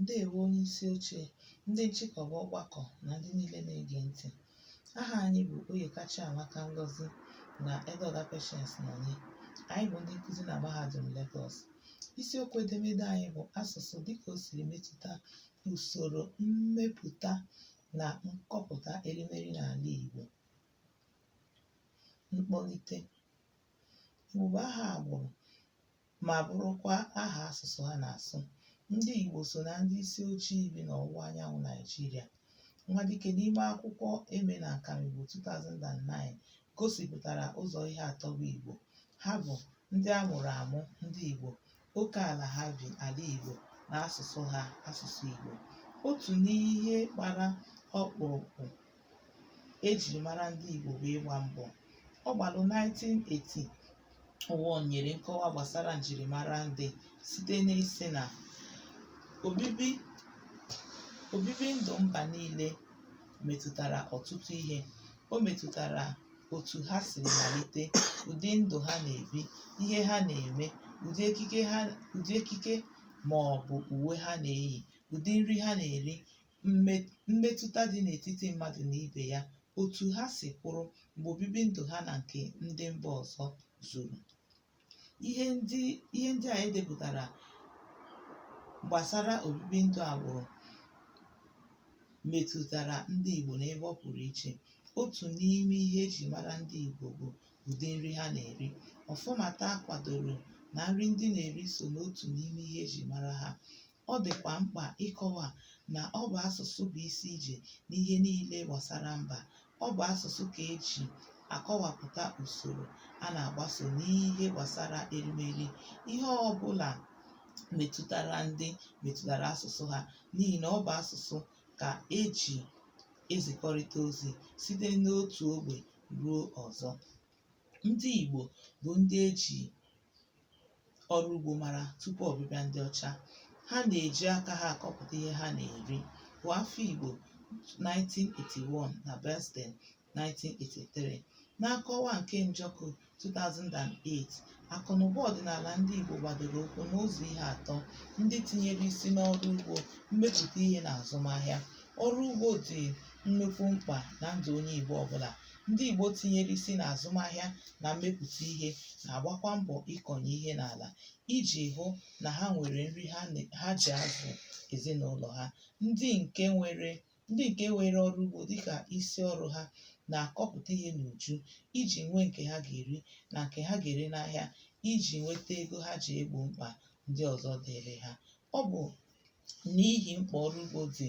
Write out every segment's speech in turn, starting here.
Ndewo onye isi oche, ndị nchịkọba ọgbakọ na ndị niile na-ege ntị. Aha anyị bụ Oyeka Chiamaka Ngozi na Edeoga Patience Nonye. Anyị bụ ndị nkụzi na Mahadum Lagos. Isiokwu edemede anyị bụ asụsụ dịka o siri metụta usoro mmepụta na nkọpụta erimeri n'ala Igbo. Mkpọlite. Igbo bụ aha agbụrụ ma bụrụkwa aha asụsụ ha na-asụ. Ndị Igbo so na ndị isi ojii bi n'ọwụwa anyanwụ Naijiria. Nwadike n'ime akwụkwọ Eme na Nkamigbo 2009 gosipụtara ụzọ ihe atọ bụ Igbo. Ha bụ ndị a mụrụ amụ ndị Igbo, oke ala ha bi ala Igbo na asụsụ ha asụsụ Igbo. Otu n'ihe gbara ọkpụrụkpụ ejiri mara ndị Igbo bụ ịgba mbọ Ọgbalụ 1980 ụwa nyere nkọwa gbasara njirimara ndị site n'ịsị na obibi obibi ndụ mba niile metụtara ọtụtụ ihe o metụtara otu ha si malite ụdị ndụ ha na-ebi ihe ha na-eme ụdị ekike ha ụdị ekike ma ọ bụ uwe ha na-eyi ụdị nri ha na-eri mme- mmetụta dị n'etiti mmadụ na ibe ya, otu ha si kwụrụ mgbe obibi ndụ ha na nke ndị mba ọzọ zuru. Ihe ndị ihe ndị a e depụtara gbasara obibi ndụ agbụrụ metụtara ndị Igbo n'ebe ọ pụrụ iche. Otu n'ime ihe e ji mara ndị Igbo bụ ụdị nri ha na-eri. Ọfọmata kwadoro na nri ndị na-eri so n'otu n'ime ihe e ji mara ha. Ọ dịkwa mkpa ịkọwa na ọ bụ asụsụ bụ isi ije n'ihe niile gbasara mba. Ọ bụ asụsụ ka e ji akọwapụta usoro a na-agbaso n'ihe gbasara erimeri. Ihe ọ bụla metụtara ndị metụtara asụsụ ha n'ihi na ọ bụ asụsụ ka e ji ezikọrịta ozi site n'otu ogbe ruo ọzọ. ndị Igbo bụ ndị e ji ọrụ ugbo mara tupu ọbịbịa ndị ọcha. Ha na-eji aka ha akọpụta ihe ha na-eri. Hụ Afigbo 1981 na Basden 1983. Na nkọwa nke Njọkụ 2008, akụnụba ọdịnala ndị Igbo gbadoro ụkwụ n'ụzọ ihe atọ ndị tinyere isi n'ọrụ ugbo, mmepụta ihe na azụmahịa. Ọrụ ugbo dị nnukwu mkpa na ndụ onye Igbo ọbụla Ndị Igbo tinyere isi n'azụmahịa na mmepụta ihe na-agbakwa mbọ ịkọnye ihe n'ala iji hụ na ha nwere nri ha ne- ha ji azụ ezinụlọ ha. Ndị nke nwere ndị nke weere ọrụ ugbo dịka isi ọrụ ha na-akọpụta ihe n'uju iji nwee nke ha ga-eri na nke ha ga-ere n'ahịa iji nweta ego ha ji egbo mkpa ndị ọzọ dịịrị ha. Ọ bụ n'ihi mkpa ọrụ ugbo dị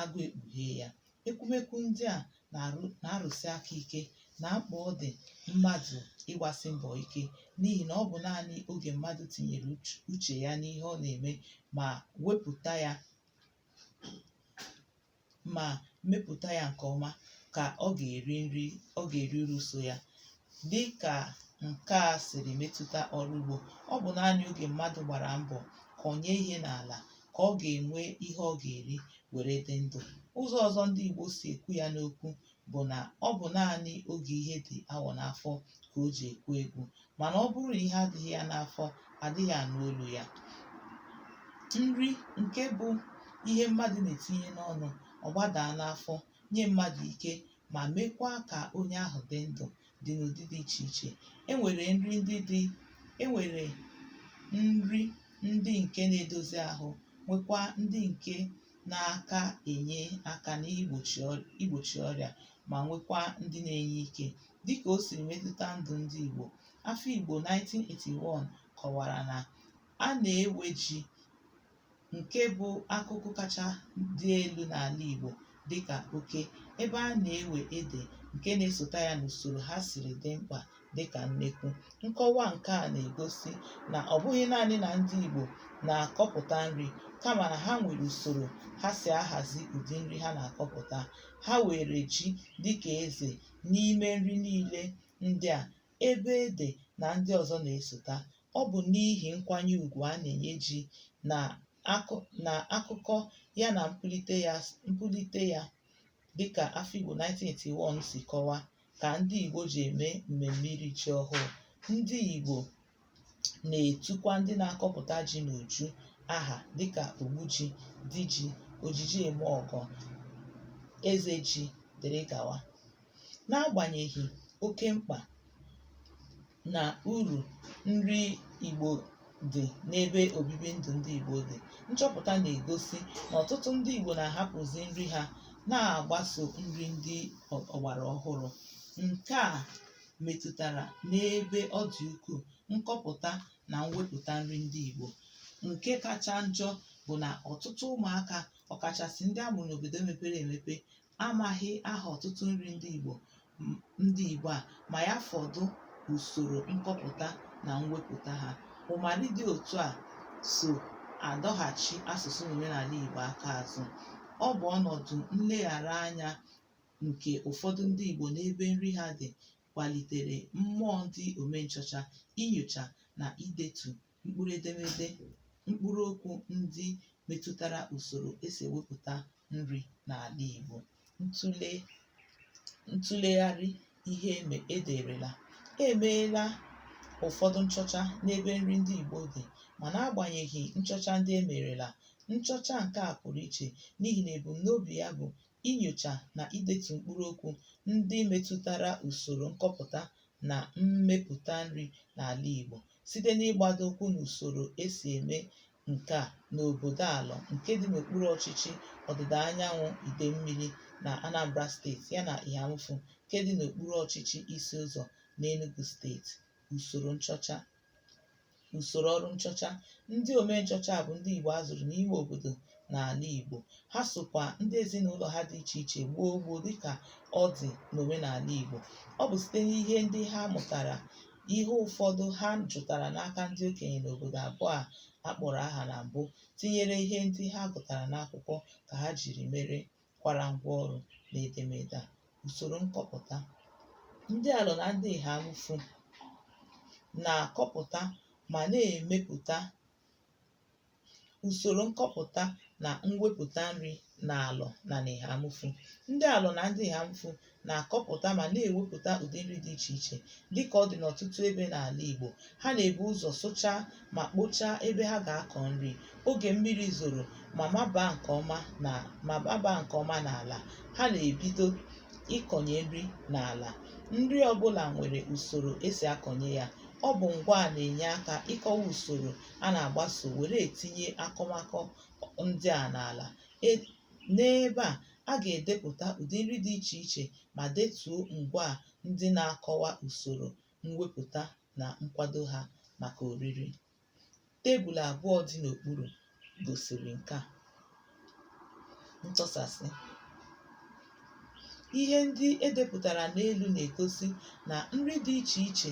agụụ ekpughee ya ekwumekwu ndị a na-arụ na-arụsi aka ike na mkpa ọ dị mmadụ ịgbasi mbọ ike n'ihi na ọ bụ naanị oge mmadụ tinyere uch- uche ya n'ihe ọ na-eme ma wepụta ya ma mepụta ya nke ọma ka ọ ga-eri nri ọ ga-eri uru so ya dịkà ǹke a sìrì metụta ọrụ ugbȯ ọ bụ̀ naanị ogè mmadụ̀ gbàrà mbọ̀ kọ̀nye ihe n'àlà kà ọ gà-ènwe ihe ọ gà-èri wère dị ndụ̀ ụzọ̇ ọ̀zọ ndị ìgbò sì èkwu ya n'okwu bụ̀ nà ọ bụ̀ naanị ogè ihe dị̀ awọ̀ n'afọ kà o jì èkwu egwu mànà ọ bụrụ nà ihe adịghị ya n'afọ àdịghị ànụ olu̇ ya nri ǹke bụ̇ ihe mmadụ̀ nà-ètinye n'ọnụ̇ ọ̀ gbadàa n'afọ nye mmadụ̀ ike ma mekwaa ka onye ahụ dị ndụ dị n'ụdị dị iche iche e nwere nri ndị dị e nwere nri ndị nke na-edozi ahụ nwekwaa ndị nke na-aka enye aka n'igbochi ọr- igbochi ọrịa ma nwekwaa ndị na-enye ike dịka o siri metụta ndụ ndị Igbo Afigbo 1981 kọwara na a na-ewe ji nke bụ akụkụ kacha dị elu n'ala Igbo dịka oke, ebe a na-ewe ede nke na-esota ya n'usoro ha siri dị mkpa dịka nnekwu. Nkọwa nke a na-egosi na ọ bụghị naanị na ndị Igbo na-akọpụta nri kama na ha nwere usoro ha si ahazi ụdị nri ha na-akọpụta. Ha weere ji dịka eze n'ime nri niile ndị a ebe ede na ndị ọzọ na-esota. Ọ bụ n'ihi nkwanye ugwu a na-enye ji na akụ na akụkọ ya na mpulite ya mpulite ya dịka Afigbo 1981 si kọwa ka ndị Igbo ji eme mmemme iri ji ọhụụ. Ndị Igbo na-etukwa ndị na-akọpụta ji n'uju aha dịka Ogbuji, Diji, Ojiji Eme Ọgọ, Eze Ji dịrị gawa. N'agbanyeghị oke mkpa na uru nri Igbo dị n'ebe obibi ndụ ndị Igbo dị, nchọpụta na-egosi na ọtụtụ ndị Igbo na-ahapụzi nri ha na-agbaso nri ndị ọgbara ọhụrụ. Nke a metụtara n'ebe ọ dị ukwuu nkọpụta na mwepụta nri ndị Igbo nke kacha njọ bụ na ọtụtụ ụmụaka ọkachasị ndị a mụrụ n'obodo mepere emepe amaghị aha ọtụtụ nri ndị Igbo ndị Igbo a ma ya fọdụ usoro nkọpụta na mwepụta ha ụmara dị otu a so adọghachi asụsụ na omenala Igbo aka azụ ọ bụ ọnọdụ nleghara anya nke ụfọdụ ndị Igbo n'ebe nri ha dị kwalitere mmụọ ndị omenchọcha inyocha na idetu mkpụrụ edemede mkpụrụ okwu ndị metụtara usoro e si ewepụta nri n'ala Igbo ntụlegharị ihe eme e derela e meela ụfọdụ nchọcha n'ebe nri ndị Igbo dị ma n'agbanyeghị nchọcha ndị e merela nchọcha nke a pụrụ iche n'ihi na ebumnobi ya bụ inyocha na idetu mkpụrụ okwu ndị metụtara usoro nkọpụta na mmepụta nri n'ala Igbo site n'ịgbado ụkwụ n'usoro e si eme nke a n'obodo Alọ nke dị n'okpuru ọchịchị ọdịda anyanwụ Idemmili na Anambra steeti yana Eha-Amufu nke dị n'okpuru ọchịchị Isi Ụzọ n'Enugu steeti. Usoro nchọcha Usoro ọrụ nchọcha. Ndị ome nchọcha a bụ ndị Igbo a zụrụ n'ime obodo n'ala Igbo. Ha sokwa ndị ezinụlọ ha dị iche iche kọọ ugbo dịka ọ dị n'omenala Igbo. Ọ bụ site n'ihe ndị ha mụtara, ihe ụfọdụ ha jụtara n'aka ndị okenye n'obodo abụọ a a kpọrọ aha na mbụ, tinyere ihe ndị ha gụtara n'akwụkwọ ka ha jiri mere kwara ngwa ọrụ na edemede a usoro nkọpụta ndị Alọ na ndị Eha-Amufu na-akọpụta ma na-emepụta usoro nkọpụta na mwepụta nri n'Alọ na n'Eha-Amufu ndị Alọ na ndị Eha-Amufu na-akọpụta ma na-ewepụta ụdị nri dị iche iche dịka ọ dị n'ọtụtụ ebe n'ala Igbo. Ha na-ebu ụzọ sụchaa ma kpochaa ebe ha ga-akọ nri oge mmiri zoro ma mabaa nke ọma n'ala. Ha na-ebido ịkọnye nri n'ala. Nri ọbụla nwere usoro e si akọnye ya. Ọ bụ ngwaa na-enye aka ịkọwa usoro a na-agbaso were etinye akụmakụ ndị a n'ala. E N'ebe a, a ga-edepụta ụdị nri dị iche iche ma detuo ngwaa ndị na-akọwa usoro mwepụta na nkwado ha maka oriri. Tebụl abụọ dị n'okpuru gosiri nke a. Ntọsasị. Ihe ndị e depụtara n'elu na-egosi na nri dị iche iche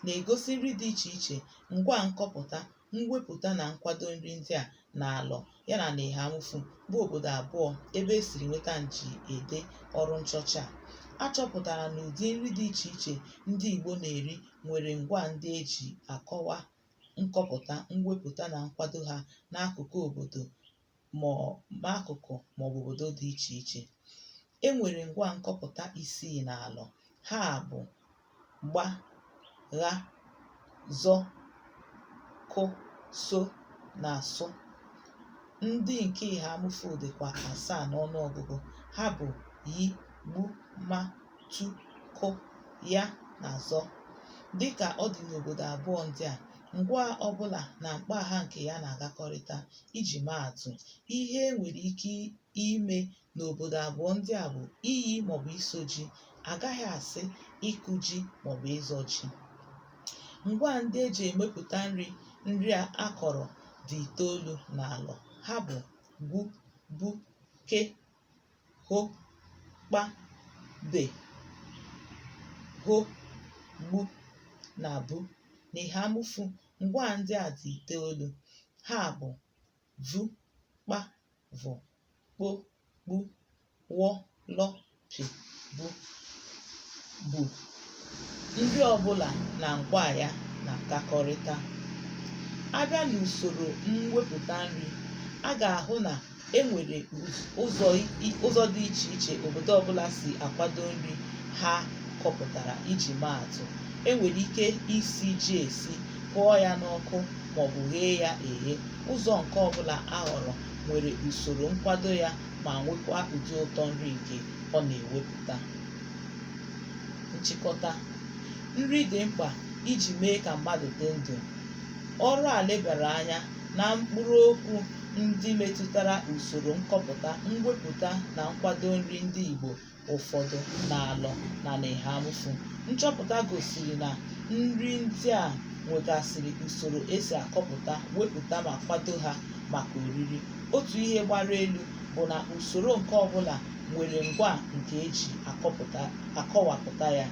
na-egosi nri dị iche iche, ngwaa nkọpụta mwepụta na nkwado nri ndị a n'Alọ yana n'Ihamufu bụ obodo abụọ ebe e siri nweta nji ede ọrụ nchọcha a. A chọpụtara na ụdị nri dị iche iche ndị Igbo na-eri nwere ngwaa ndị e ji akọwa nkọpụta, mwepụta na nkwado ha n'akụkụ obodo ma ọ ma akụkụ ma ọ bụ obodo dị iche iche. E nwere ngwaa nkọpụta isii n'Alọ. Ha bụ gba, gha, zọ, kụ, so na sụ. Ndị nke Ihamufu dịkwa asaa n'ọnụ ọgụgụ. Ha bụ yi, gbu, ma, tu, kụ, ya na zọ. Dị ka ọ dị n'obodo abụọ ndị a, ngwaa ọ bụla na mkpọaha nke ya na-agakọrịta. Iji maa atụ, ihe e nwere ike ime n'obodo abụọ ndị a bụ iyi maọbụ iso ji, a gaghị asị ịkụ ji maọbụ ịzọ ji. Ngwaa ndị e ji emepụta nri nri a a kọrọ dị itoolu n'Alọ. Ha bụ gwu, bu, ke, ho, kpa, be, ho, gbu na bu. N'Ihamufu, Ngwaa ndị a dị itoolu. Ha bụ vu, kpa, vụ, kpo, kpu, wọ, lọ, pị, bu, bu. Nri ọbụla na ngwaa ya na-agakọrịta. A bịa n'usoro mwepụta nri, a ga-ahụ na e nwere ụzọ ụzọ dị iche iche obodo ọbụla si akwado nri ha kọpụtara iji maa atụ e nwere ike isi ji esi hụọ ya n'ọkụ maọbụ ghee ya eghe ụzọ nke ọbụla a họrọ nwere usoro nkwado ya ma nwekwa ụdị ụtọ nri nke ọ na-ewepụta nchịkọta nri dị mkpa iji mee ka mmadụ dị ndụ ọrụ a lebara anya na mkpụrụ okwu ndị metụtara usoro nkọpụta, mwepụta na nkwado nri ndị Igbo ụfọdụ n'Alọ na n'Ihamufu. Nchọpụta gosiri na nri ndị a nwegasịrị usoro e si akọpụta, wepụta ma kwado ha maka oriri. Otu ihe gbara elu bụ na usoro nke ọbụla nwere ngwaa nke e ji akọpụta akọwapụta ya.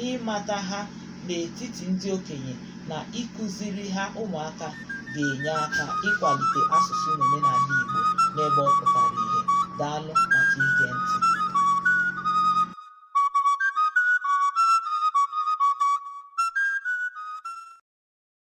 Ịmata ha n'etiti ndị okenye na ịkụziri ha ụmụaka ga-enye aka ịkwalite asụsụ na omenala Igbo n'ebe ọ pụtara ihe. Daalụ maka ige ntị.